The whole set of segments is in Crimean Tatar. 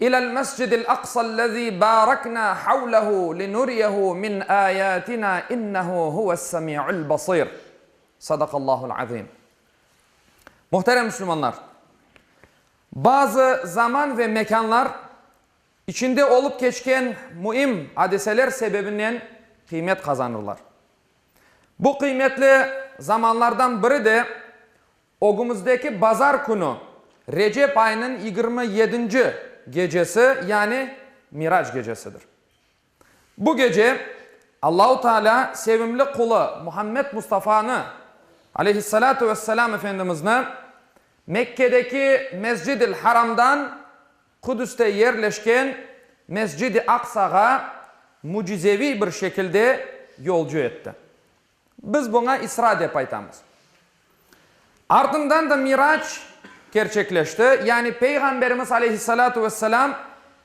İlâ'l Mescidil Aqsa'llezî bâreknâ havlehu linuriyehu min âyâtinâ innehu huves-semi'ul basir. Sadakallahu'l azim. Muhterem müslümanlar! Bazı zaman ve mekânlar içinde olıp keçken müim adiseler sebebinden qıymet qazanırlar. Bu qıymetli zamanlardan biri de Ögümizdeki bazar künü, Recep ayınıñ yigirmi yedinci gecesi, yani Mirac gecesidir. Bu gece Allahu Taalâ sevimli qulı Muhammed Mustafanı, aleyhissalâtu vesselâm, Efendimizni Mekkedeki Mescid-il Haramdan Qudüste yerleşken Mescid-i Aqsağa mücizeviy bir şekilde yolcu etti. Biz buña İsra dep aytamız. Artından da Mirac kerçekleşti, yani Peyğamberimiz aleyhissalâtu vesselâm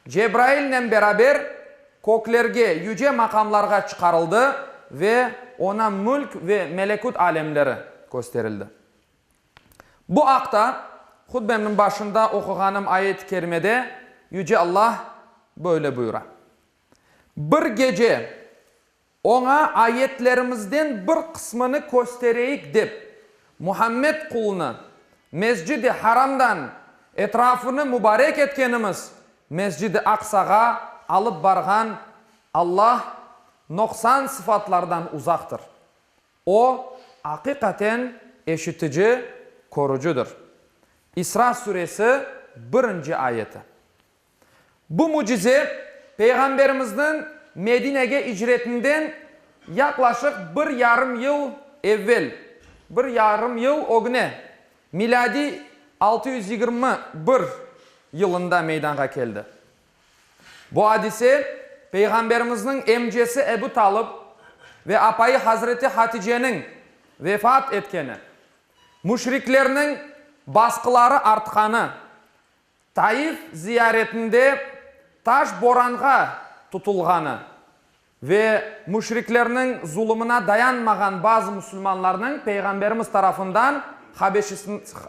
Cebrailnen beraber köklerge, yüce maqamlarğa çıqarıldı ve oña mülk ve melekut alemleri kösterildi. Bu aqta hutbemniñ başında oquğanım ayet-i kerimede Yüce Allah böyle buyura, Bir gece, Oña ayetlerimizden bir qısmını köstereyik dep, Muhammed qulunı Mescid-i Haramdan etrafını mubarek etkenimiz Mescid-i Aqsağa alıp barğan Allah noqsan sıfatlardan uzaqtır. O, aqiqaten eşitici, körücidir. İsra Suresi birinci ayeti. Bu mücize Peyğamberimizniñ Medinege icretinden yaqlaşıq bir yarım yıl evvel, bir yarım yıl ögüne, milâdiy altı yüz yigirmi bir yılında meydanğa keldi. Bu adise Peyğamberimizniñ emcesi Ebu Talıp ve apayı hazreti Haticeniñ vefat etkeni, müşriklerniñ basqıları artqanı, Taif ziyaretinde taş boranğa tutulğanı ve müşriklerniñ zulumına dayanmağan bazı musulmanlarnıñ Peyğamberimiz tarafından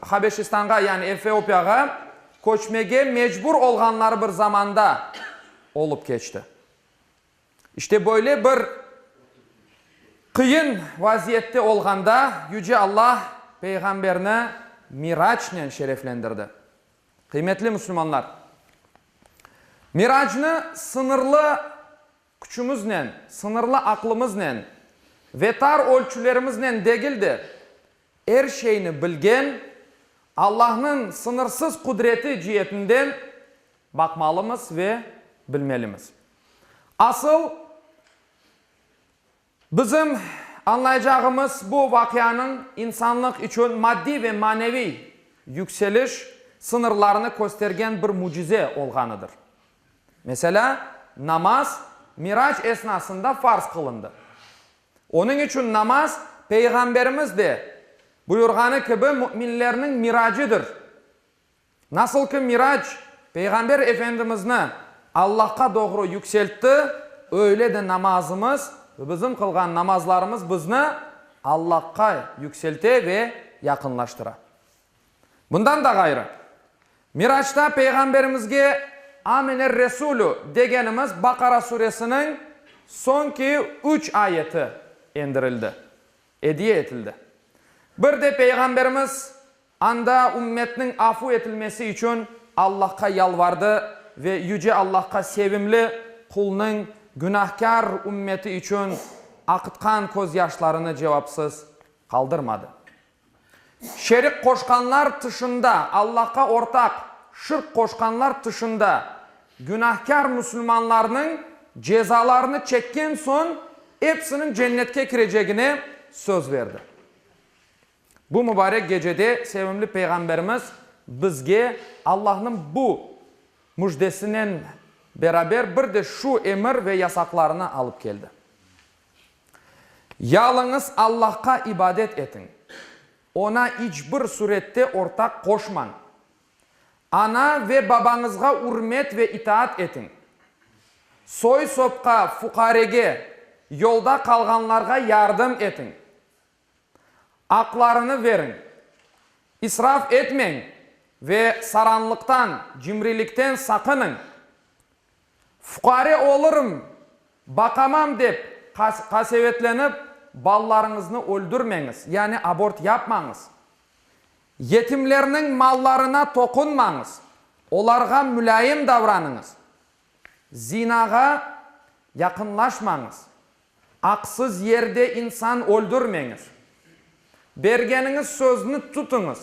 Habeşistanğa, yani Efiopiyağa köçmege mecbur olğanları bir zamanda olıp keçti. İşte böyle bir qıyın vaziyette olğanda Yüce Alla Peyğamberni Miracnen şereflendirdi. Qıymetli müslümanlar! Miracnı sıñırlı küçümiznen, sıñırlı aqlımıznen ve tar ölçülerimiznen degil de, er şeyni bilgen Allahnıñ sıñırsız qudreti cietinden Baqmalımız ve bilmelimiz. Asıl, bizim añlaycağımız, bu vaqianıñ insanlıq içün maddiy ve maneviy yükseliş sıñırlarını köstergen bir mücize olğanıdır. Meselâ, namaz Mirac esnasında farz qılındı. Onıñ içün namaz, Peyğamberimiz de buyurğanı kibi, müminlerniñ miracıdır. Nasıl ki Mirac Peyğamber Efendimizni Allahqa doğru yükseltti, öyle de namazımız ve bizim qılğan namazlarımız bizni Allahqa yükselte ve yaqınlaştıra. Bundan da ğayrı, Miracta Peyğamberimizge Amener-Resulü degenimiz Baqara Suresiniñ soñki üç ayeti endirildi, ediye etildi. Bir de Peyğamberimiz Anda ümmetniñ afu etilmesi içün Allahqa yalvardı ve Yüce Allahqa sevimli Qulnıñ günahkâr ümmeti içün aqıtqan közyaşlarını cevapsız qaldırmadı. Şerik qoşqanlar tışında, Allahqa ortaq, şirk qoşqanlar tışında, günahkâr musulmanlarnıñ cezalarını çekken soñ, epsiniñ cennetke kirecegine söz berdi. Bu mübarek gecede sevimli Peyğamberimiz bizge Allahnıñ bu müjdesinen beraber bir de şu emir ve yasaqlarını alıp keldi, Yalıñız Allahqa ibadet etiñ, Oña iç bir sürette ortaq qoşmañ, ana ve babañızğa ürmet ve itaat etiñ, soy-sopqa, fuqarege, yolda qalğanlarğa yardım etiñ. Aqlarını veriñ, israf etmeñ ve saranlıqtan, cimrilikten saqınıñ. Fuqare olurım, baqamam dep qasevetlenip, balalarıñıznı öldürmeñiz, yani abort yapmañız. Yetimlerniñ mallarına toqunmañız, olarğa mülâyim davranıñız. Zinağa yaqınlaşmañız, Aqsız yerde insan öldürmeñiz. Bergeniñiz sözni tutuñız.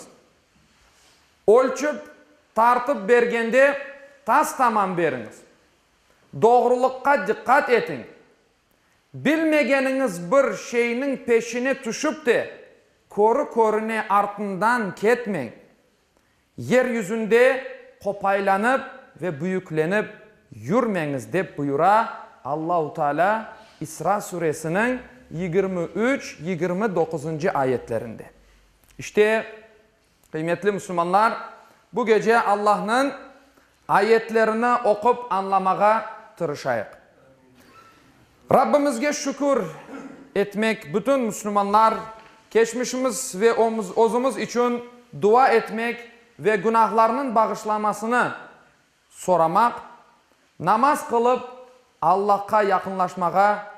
Ölçip, tartıp bergende tas-tamam beriñiz. Doğrulıqqa diqqat etiñ. Bilmegeniñiz bir şeyniñ peşine tüşip te, körü-körüne artından ketmeñ. Yer yüzünde qopaylanıp ve büyüklenip yürmeñiz dep buyura Allahu Teala İsra Suresiniñ yigirmi üç, yigirmi doquzıncı ayetlerinde. İşte, qıymetli musulmanlar, bu gece Allahnıñ Ayetlerini oqup añlamağa tırışayıq. Rabbimizge şükür etmek, bütün müslümanlar, keçmişimiz ve özümiz içün dua etmek ve günahlarnıñ bağışlanmasını soramaq, namaz qılıp Allahqa yaqınlaşmağa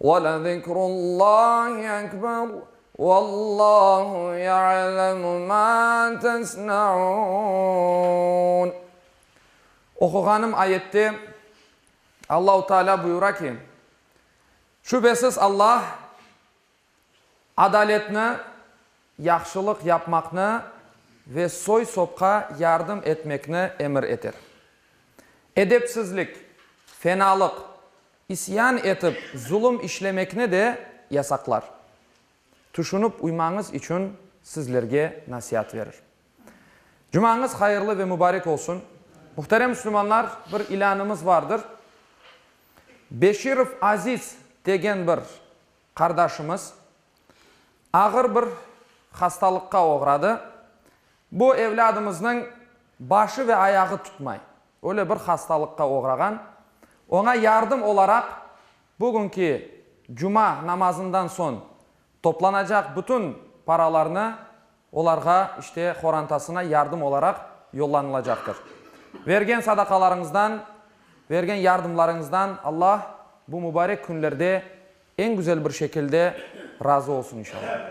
Ve lezikrullahi ekber Vallahu ya'lemu ma tesna'un Oquğanım ayette Allahu Teala buyura ki, Şübesiz Alla adaletni, yahşılıq yapmaqnı ve soy-sopqa yardım etmekni emir eter. Edepsizlik, fenalıq, İsyan etip zulum işlemekni de yasaqlar. Tüşünip uymañız içün sizlerge nasiat verir. Cumañız hayırlı ve mübarek olsun. Muhterem müslümanlar, bir ilânımız vardır. Beşirov Aziz degen bir qardaşımız ağır bir hastalıqqa oğradı. Bu evlâdımıznıñ başı ve ayağı tutmay, öyle bir hastalıqqa oğrağan. Oña yardım olaraq bugünki cuma namazından soñ toplanacaq bütün paralarnı olarğa, işte, qorantasına yardım olaraq yollanılacaqtır. Bergen sadaqalarıñızdan, bergen yardımlarıñızdan Alla bu mübarek künlerde eñ güzel bir şekilde razı olsun inşallah.